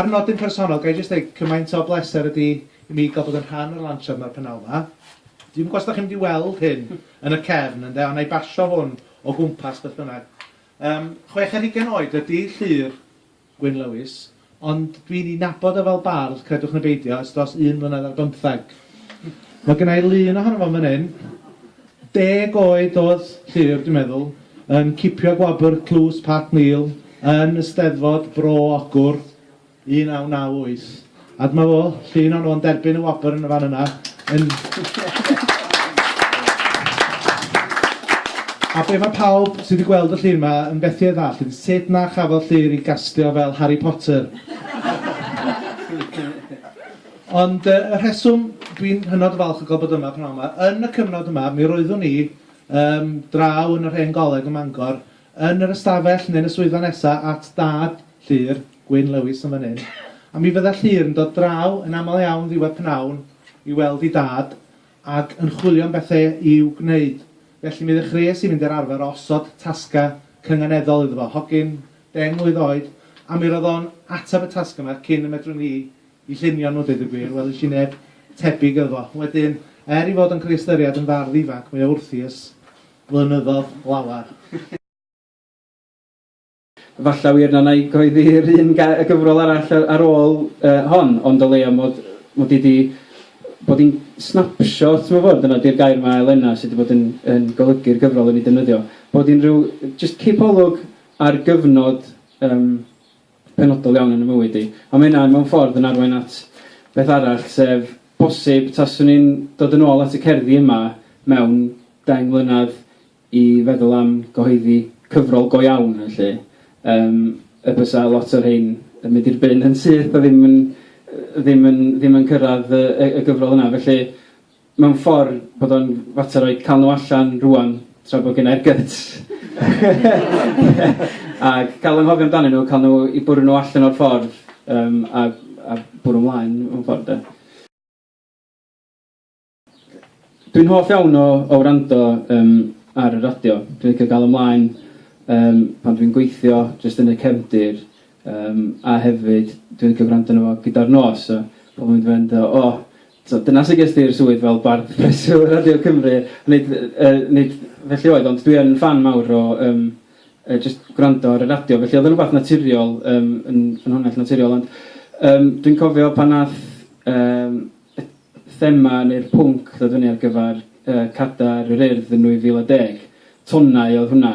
Ar nodyn personol, ga i jyst dweud, cymaint o bleser ydy i mi gael bod yn rhan o'r lansiad yma'r pennau yma. Dwi'm yn gwybod os da chi'n mynd i weld hyn yn y cefn, ynde, ond na i basio hwn o gwmpas beth bynnag. Yym, chwech ar hugain oed ydy Llŷr, Gwyn Lewis, Ond dwi'n ei nabod o fel bardd, credwch neu beidio, ers dros un mlynedd ar bymtheg. Mae gynna i lun ohono fo yn fan hyn. Deg oed oedd Llyr, dwi'n meddwl, yn cipio gwobr Tlws Pat Neal yn y Steddfod Bro Ogwr 1998. A dyma fo, llun o'n o'n derbyn y wobr yn y fan yna. Yn... A be mae pawb sydd wedi gweld y llun yma yn fethu ei ddall yn sut na chafodd Llyr i gastio fel Harry Potter. Ond uh, y rheswm dwi'n hynod o falch o gael bod yma pnawn yma, yn y cyfnod yma, mi roeddwn ni um, draw yn yr hen goleg ym Mangor, yn yr ystafell neu'n y swyddfa nesaf at dad Llŷr, Gwyn Lewis yn fan hyn, a mi fydda Llŷr yn dod draw yn aml iawn ddiwedd pnawn i weld ei dad ac yn chwilio am bethe i'w gwneud, felly mi ddechreuais i fynd i'r arfer o osod tasga cynganeddol iddo fo, hogyn deng mlwydd oed, a mi roedd o'n ateb y tasga yma cyn y medrwn i 'i llunio nhw, deud y gwir, welish i neb tebyg iddo fo. Wedyn, er ei fod o'n cael ei ystyried yn fardd ifanc, mae o wrthi ers blynyddodd lawer. Falle wir na wna i gyhoeddi'r un ga- y gyfrol arall a- ar ôl yy hon, ond o leia mod mod i 'di bod i'n snapshot mewn ffordd, dyna 'di'r gair mae Elena, sy 'di bod yn yn golygu'r gyfrol i mi, defnyddio, bod i'n rhyw jyst cipolwg ar gyfnod yym penodol iawn yn 'y mywyd i. A ma' hynna mewn ffordd yn arwain at beth arall, sef bosib taswn i'n dod yn ôl at y cerddi yma mewn deng mlynadd, i feddwl am gyhoeddi cyfrol go iawn yn lle um, y bysa lot o'r rhain yn mynd i'r byn yn syth a ddim yn, ddim yn, ddim yn cyrraedd y, y, y gyfrol yna. Felly, mewn ffordd bod o'n fater o'i cael nhw allan rwan tra bod gen i'r gyts. Ac cael yng nghofio amdanyn nhw, cael nhw i bwrw nhw allan o'r ffordd um, a, a bwrw ymlaen mewn ffordd. De. Dwi'n hoff iawn o, o wrando um, ar y radio. Dwi'n licio gael ymlaen um, pan dwi'n gweithio, jyst yn y cefndir. Um, a hefyd, dwi'n licio gwrando arno fo gyda'r nos. So, pobl yn mynd o, oh, so, dyna sy'n gysdi i'r swydd fel bardd preswyl Radio Cymru. Nid, uh, nid felly oedd, ond dwi'n fan mawr o um, uh, just gwrando ar y radio. Felly oedd yn rhywbeth naturiol, um, yn ffynhonnell naturiol. Ond um, dwi'n cofio pan nath um, y thema neu'r pwnc ddod fyny ar gyfer yy Cadair yr Urdd yn 2010, tonnau oedd hwnna,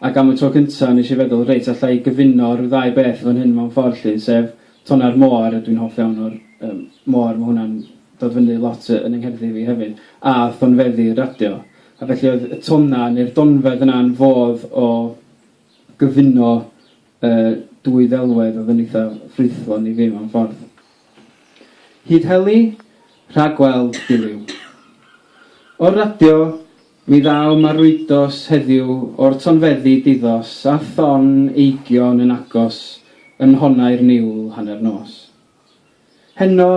ac am y tro cynta' nes i feddwl reit alla i gyfuno rhyw ddau beth fan hyn mewn ffordd 'lly, sef tonnau'r môr, a dwi'n hoff iawn o'r yym môr, ma' hwnna'n dod fyny lot yy yn 'y ngherddi fi hefyd, a thonfeddi y radio, a felly oedd y tonnau neu'r donfedd yna yn fodd o gyfuno y dwy ddelwedd oedd yn eitha ffrwythlon i fi mewn ffordd. Hyd heli, rhagweld Duliw. O'r radio, mi ddaw marwyddos heddiw o'r tonfeddi diddos a thon eigion yn agos yn nhonau'r niwl hanner nos. Heno,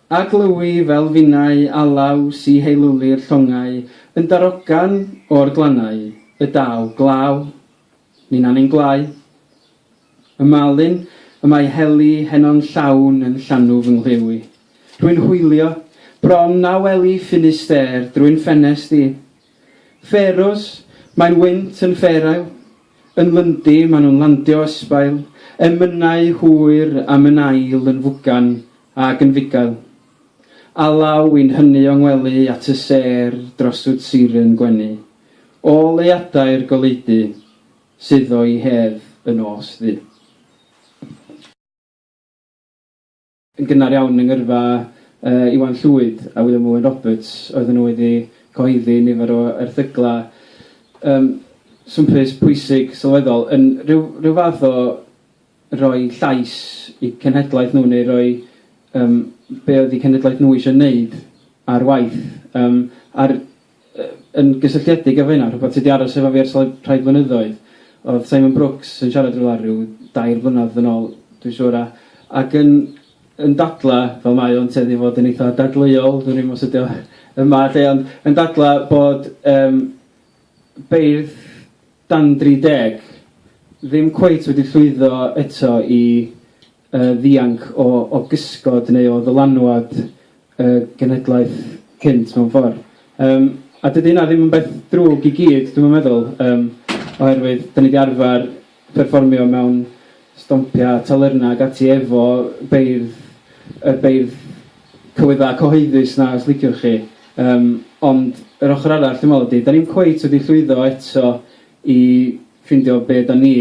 a glywi fel finnau alaw si heilwli'r llongau yn darogan o'r glannau, y daw glaw, Ninan ein gwlâu. Y malin y mae heli heno'n llawn yn llanw fy ngwlyw i. Rwy'n hwylio, bron na weli ffinnu stêr drwy'n ffenest i. Ffêrws, mae'n wynt yn ffêrail. Yn Lundy, maen nhw'n landio ysbail, emynau hwyr a mynail yn fwgan ag yn fugail. Alaw i'n hyny o ngwely at y sêr droswt siren gwenu. O leiadau'r goleudy sydd o 'i hedd y nos ddu. Yn gynnar iawn yng ngyrfa Iwan Llwyd a William Owen Roberts oedden nhw wedi cyhoeddi nifer o erthyglau yym swmpus, pwysig, sylweddol, yn rhyw rhyw fath o roi llais i cenhedlaeth nhw neu roi yym be oedd eu cenhedlaeth nhw eisiau wneud ar waith. Yym a'r Yn gysylltiedig efo hynna, rhywbeth sy 'di aros efo fi ers rhai rhai blynyddoedd oedd Simon Brooks yn siarad rywle ryw dair blynedd yn ôl dwi'n siŵr a ac yn yn dadlau, fel mae o'n tueddu i fod yn eitha' dadleuol, dwn i'm os ydi o yma 'lly, ond yn dadlau bod yym beirdd dan 30 ddim cweit wedi llwyddo eto i y ddianc o o gysgod neu o ddylanwad y genhedlaeth cynt mewn ffordd. Yym, a dydy hynna ddim yn beth drwg i gyd, dwi'm yn meddwl, yym, oherwydd 'dan ni 'di arfer perfformio mewn stompiau a talyrnau ac ati efo beirdd, y beirdd cywyddau cyhoeddus 'na os liciwch chi. Yym, ond yr ochr arall dwi'n meddwl ydy, 'dan ni'm cweit wedi llwyddo eto i ffindio be' 'dan ni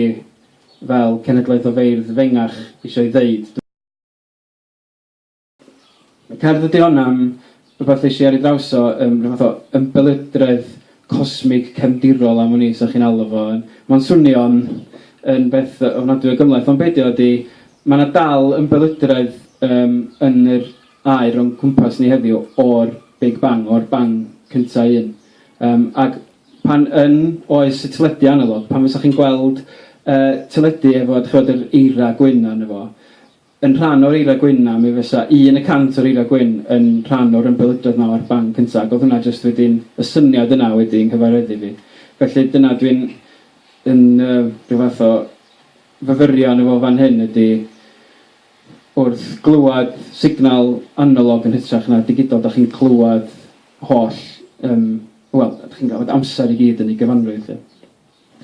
fel cenedlaeth o feirdd fengach isio ei ddeud. Dw cerdd ydy hon am rwbath eshi ar ei draws o yym rhyw fath o ymbelydredd cosmig cefndirol am wn i sa chi'n alw fo yn ma'n swnio'n yn beth ofnadwy o gymhleth ond be dio ydy ma na dal ymbelydredd yym yn yr aer o'n cwmpas ni heddiw o'r big bang o'r bang cynta un yym ag Pan yn oes y teledu analog, pan fysa chi'n gweld y teledu efo, dach chi'bod, yr eira gwyn arno fo, yn rhan o'r eira gwyn 'na, mi fysa un y cant o'r eira gwyn yn rhan o'r ymbeludraeth 'ma o'r band cynta, ac oedd hwnna jyst wedyn, y syniad yna wedi 'y nghyfareddu fi. Felly, dyna dwi'n yn yy rhyw fath o fyfyrio arno fo fan hyn ydy, wrth glywed signal analog yn hytrach na digidol, dach chi'n clywed holl, yym, wel, dach chi'n cael amser i gyd yn ei gyfanrwydd, de.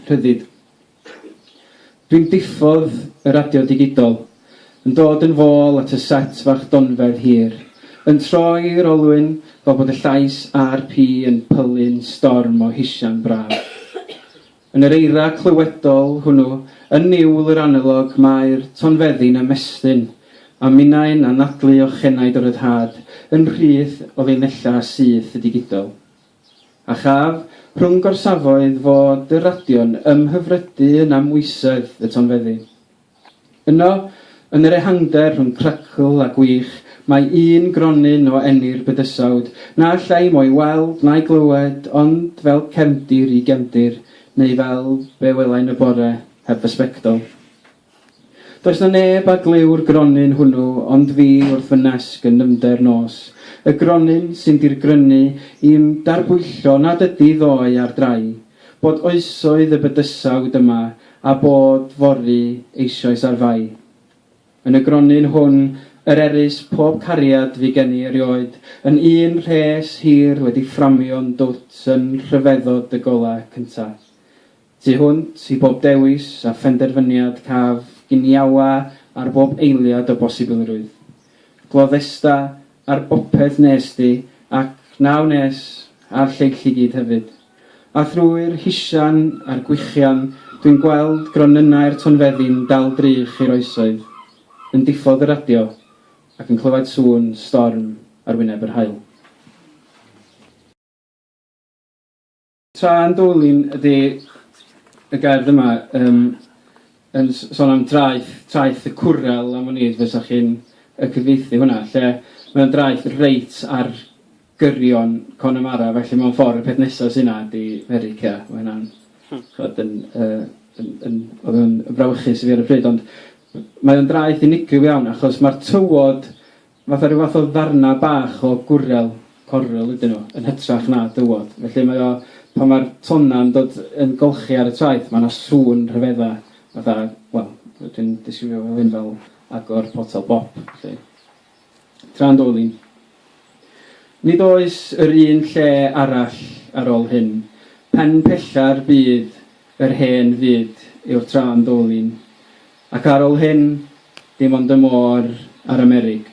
Rhyddid. Dwi'n diffodd y radio digidol, yn dod yn fôl at y set fach donfedd hir, yn troi'r olwyn fel bod y llais RP yn pylu'n storm o hisian braf. Yn yr eira clywedol hwnnw, yn niwl yr analog, mae'r tonfeddi'n ymestyn, a minnau'n anadlu ochenaid o ryddhad, yn rhydd o linellau syth y digidol. A chaf, rhwng gorsafoedd, fod y radio'n ymhyfrydu yn amwysedd y tonfeddi. Yno, yn yr ehangder rhwng crecl a gwych, mae un gronyn o eni'r bydysawd, na allai mo'i weld na'i glywed ond fel cefndir i gefndir, neu fel be welai'n y bore heb fy sbectol. Does 'na neb a glyw'r gronyn hwnnw ond fi wrth fy nesg yn nyfnder nos, y gronyn sy'n dirgrynu i'm darbwyllo nad ydi ddoe ar drai, Bod oesoedd y bydysawd yma a bod fory eisoes ar fai. Yn y gronyn hwn yr erys pob cariad fu gen i erioed, yn un rhes hir wedi fframio'n dwt yn rhyfeddod dy gola cynta. Tu hwnt i bob dewis a phenderfyniad caf giniawa ar bob eiliad o bosibilrwydd. Gloddesta ar bopeth wnest ti, ac na wnes, a'r lleill i gyd hefyd. A thrwy'r hisian a'r gwichian, dwi'n gweld gronynnau'r tonfeddi'n dal drych i'r oesoedd, yn diffodd y radio, ac yn clywaid sŵn storm ar wyneb yr haul. Tra yn Doline ydy y gerdd yma um, yn sôn am draeth, traeth y cwrel am wn i, fysa chi'n y cyfeithi hwnna, lle mae'n draeth reit ar gyrion Connemara, felly mae'n ffordd y peth nesaf sy'n yna ydy Merica, mae hynna'n chod, yn, uh, yn, yn, oedd yn frawychus i fi ar y pryd, ond mae'n draeth unigryw iawn achos mae'r tywod Fatha rhyw fath o ddarnau bach o gwrel, correl, ydyn nhw, yn hytrach na dywod. Felly mae o, pan mae'r tonnau yn dod yn golchi ar y traeth, mae yna sŵn rhyfeddau, fatha, wel, dwi'n disgrifio fo hyn fel agor potel bop, felly. Tra'n dwl i. Nid oes yr un lle arall ar ôl hyn. Pen pella'r byd, yr hen fyd, yw'r tra'n dwl i'n. Ac ar ol hyn, dim ond y môr a'r Amerig.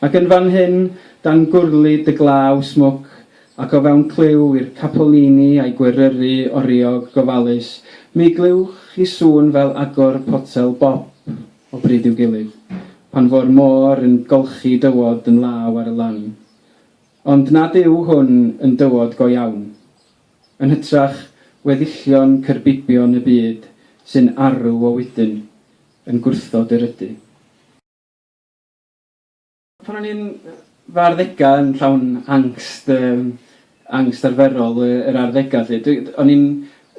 Ac yn fan hyn, dan gwrlid y glaw smwc, ac o fewn clyw i'r capolini a'i gweryru oriog gofalus, mi glywch chi sŵn fel agor potel bop o bryd i'w gilydd, pan fo'r môr yn golchi dywod yn law ar y lan. Ond nad yw hwn yn dywod go iawn. Yn hytrach, weddillion cyrbibion y byd sy'n arw o wydyn, yn gwrthod yr ydy. Pan o'n i'n fy arddegau, yn llawn angst, yym, angst arferol yr arddegau 'lly, dwi... o'n i'n...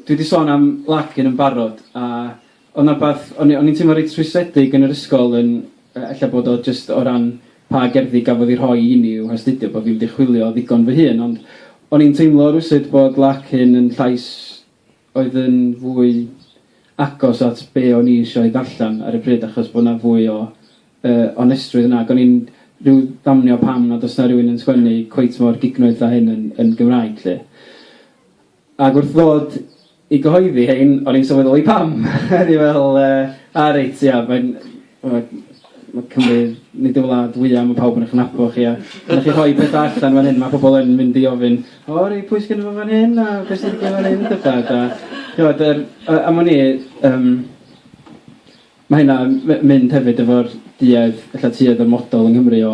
dwi 'di sôn am Larkin yn barod, a Oedd 'na rywbeth... o'n i o'n i'n teimlo reit rhwystredig yn yr ysgol yn... yy ella bod o jyst o ran pa gerddi gafodd eu rhoi i ni i'w hastudio, bod fi wedi chwilio ddigon fy hun, ond o'n i'n teimlo rywsut bod Larkin yn llais oedd yn fwy agos at be o'n i isio ei ddarllen ar y pryd, achos bod 'na fwy o yy onestrwydd yna, ac o'n i'n rhyw ddamnio pam nad oes 'na rywun yn sgwennu cweit mor gignoeth â hyn yn yn Gymraeg 'lly. Ac wrth ddod i gyhoeddi hein, o'n i'n sylweddoli pam! O'n i fel, yy, a reit, ia, mae'n... mae mae Cymru, nid y wlad fwya', mae pawb yn eich nabod chi, a pan dach chi'n rhoi petha allan fan hyn, mae pobl yn mynd i ofyn, 'O reit, pwy sgynno fo fan hyn, a be' sy'n digwydd fan hyn', a petha, a, chimod, yr... a am wn i, yym, Mae hynna'n mynd hefyd efo'r duedd, ella tuedd o'r model yng Nghymru o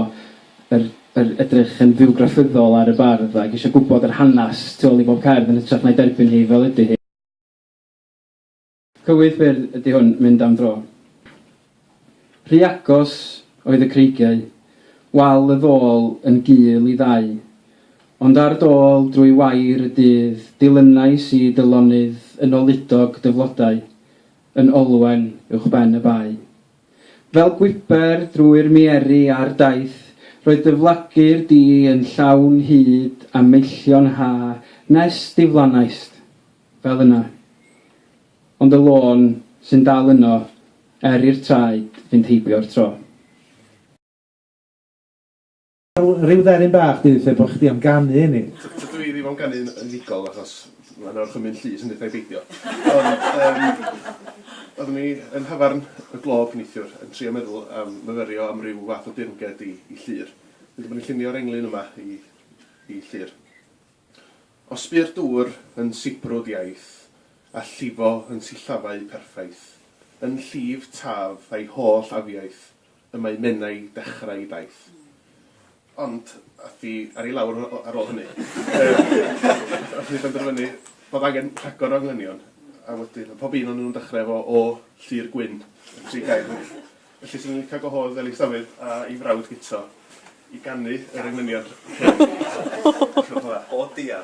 yr yr edrych yn fywgraffyddol ar y bardd ac eisiau gwybod yr hanes tu ôl i bob cerdd yn hytrach na'i derbyn hi fel ydi hi. Cywydd byr ydi hwn, mynd am dro. Rhy agos oedd y creigiau, wal y ddôl yn gul i ddau, ond ar dôl drwy wair y dydd dilynais i dy lonydd yn oludog dy flodau, yn olwen uwchben y bae. Fel gwybr drwy'r mieri a'r daith, roedd dyflagu'r du yn llawn hyd a meillion ha nes diflannaist, fel yna. Ond y lôn sy'n dal yno, er i'r traed fynd heibio'r tro. Wel, ryw dderyn bach dwi'n lle bod chdi am ganu i ni. Tydw i ddim am ganu'n unigol achos mae yna orchymyn llys yn hithau beidio. Ond yym oeddwn i yn nhafarn y Glob neithiwr yn trio meddwl am fyfyrio am ryw fath o dirmged i i Llŷr. Hyd y bod ni'n llunio'r englyn yma i i Llŷr. O sbïr dŵr yn sibrwd iaith, a llifo yn sillafau perffaith, yn llif taf a'i holl afiaith, Y mae Menai dechrau ei daith. Ond ath hi ar ei lawr ar ôl hynny. Ath hi benderfynu bod angen rhagor o englynion, a wedyn oedd pob un o'n nhw'n dechrau efo O Llyr Gwyn, y tri gair hynny. Felly 'swn i'n licio gwahodd Elis Dafydd a'i frawd Guto i ganu yr englynion. O diar!